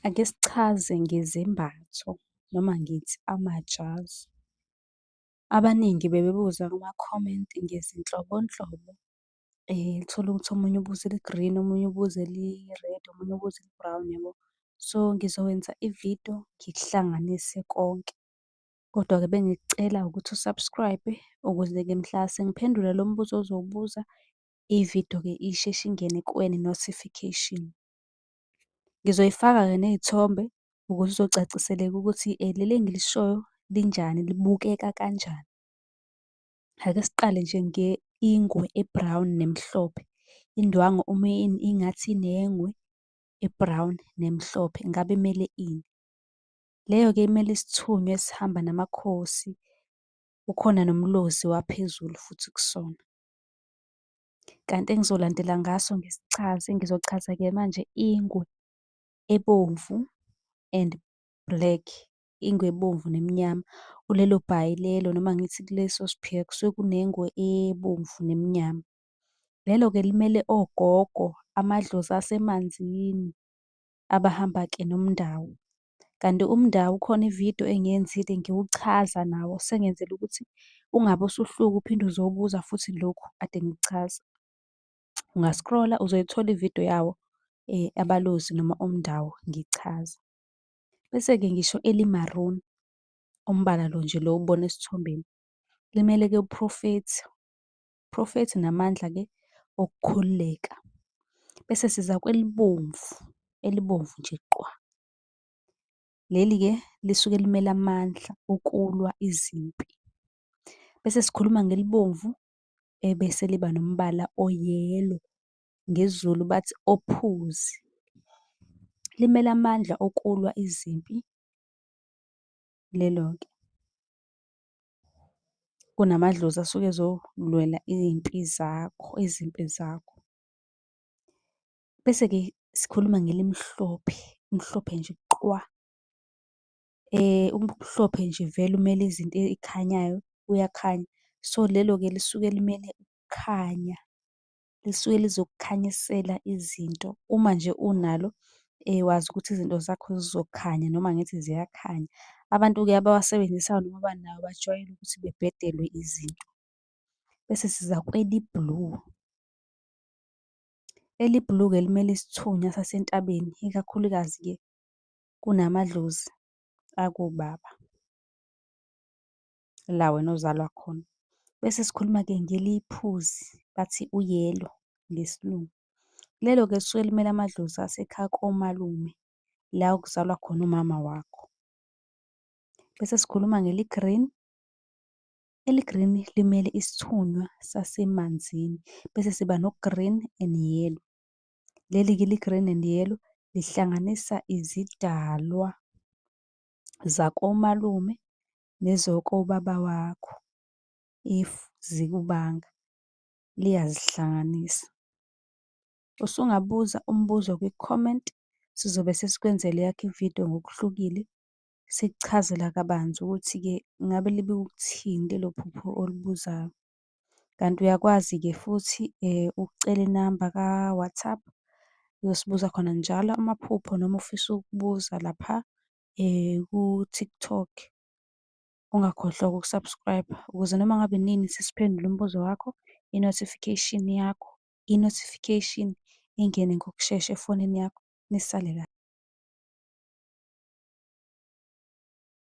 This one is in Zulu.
Ake sichaze ngezembatho noma ngithi amajazi. Abaningi bebebuza kuma-comment ngezinhlobonhlobo, uthole ukuthi omunye ubuze eli-green, omunye ubuze eli-red, omunye ubuze eli-brown yabo. So, ngizokwenza i-video ngikuhlanganise konke. Kodwa-ke bengikucela ukuthi u-subscribe-e ukuze-ke mhla sengiphendula lo mbuzo ozowubuza, i-video-ke isheshe ingene kuwe ne-notification. Ngizoyifaka-ke ney'thombe ukuze kuzocaciseleka ukuthi leli engilishoyo linjani, libukeka kanjani. Ake siqale nje ngengwe e-brown nemhlophe. Indwangu uma ingathi inengwe e-brown nemhlophe ngabe kumele ini? Leyo-ke imele isithunywa esihamba namakhosi, kukhona nomlozi waphezulu futhi kusona. Kanti engizolandela ngaso ngisichaze, ngizochaza-ke manje ingwe ebomvu and black, ingwe ebomvu nemnyama. Kulelo bhayi lelo noma ngithi kuleso siphika kusuke kunengwe ebomvu nemnyama. Lelo-ke limele ogogo, amadlozi asemanzini, abahamba-ke nomndawo. Kanti uMndawu khona ividiyo engiyenzile ngiwuchaza nawo sengenzela ukuthi ungabe usuhluka uphinde uzobuza futhi lokhu kade ngikuchaza. Unga-scroll-a uzoyithola ividiyo yawo aBalozi noma uMndawu ngichaza. Bese-ke ngisho eli-maroon, umbala lo nje lo owubona esithombeni, limele-ke uProfethi. prophethi namandla ke okukhululeka. Bese siza kwelibomvu, elibomvu nje qwa. Leli ke lisuke limele amandla okulwa izimpi. Bese sikhuluma ngelibomvu ebese liba nombala oyelo ngezulu bathi ophuzi. Limele amandla okulwa izimpi lelo ke. kunamadlozi asuke ezolwela iy'mpi zakho, izimpi zakho. Bese-ke sikhuluma ngelimhlophe, elimhlophe nje qwa. Umhlophe nje vele umele izinto ey'khanyayo, uyakhanya. So, lelo-ke lisuke limele ukukhanya. lisuke lizokukhanyisela izinto. Uma nje unalo wazi ukuthi izinto zakho zizokhanya noma ngithi ziyakhanya. Abantu-ke abawasebenzisayo noma abanawo bajwayele ukuthi bebhedelwe izinto. Bese siza kweli-blue. Eli-blue-ke limele isithunywa sasentabeni, ikakhulukazi-ke kunamadlozi akobaba. la wena ozalwa khona. Bese sikhuluma-ke ngeliphuzi, bathi uyelo ngesilungu. Lelo-ke lisuke limele amadlozi asekhaya komalume, la okuzalwa khona umama wakho. Bese sikhuluma ngeli-green, eli-green limele isithunywa sasemanzini. Bese siba no-green and yellow. Leli-ke eli-green and yellow lihlanganisa izidalwa zakomalume nezokobaba wakho if zikubanga liyazihlanganisa. Usungabuza umbuzo kwi-comment sizobe sesikwenzela eyakho ividiyo ngokuhlukile sikuchazela kabanzi ukuthi-ke ngabe libe ukuthini lelo phupho olubuzayo. Kanti uyakwazi-ke futhi ukucela inamba ka-WhatsApp uyosibuza khona njalo amaphupho noma ufisa ukubuza lapha ku-TikTok. Ungakhohlwa uku-subscribe-a ukuze noma ngabe nini sesiphendula umbuzo wakho, i-notification yakho, i-notification ingene ngokushesha efonini yakho, nisale .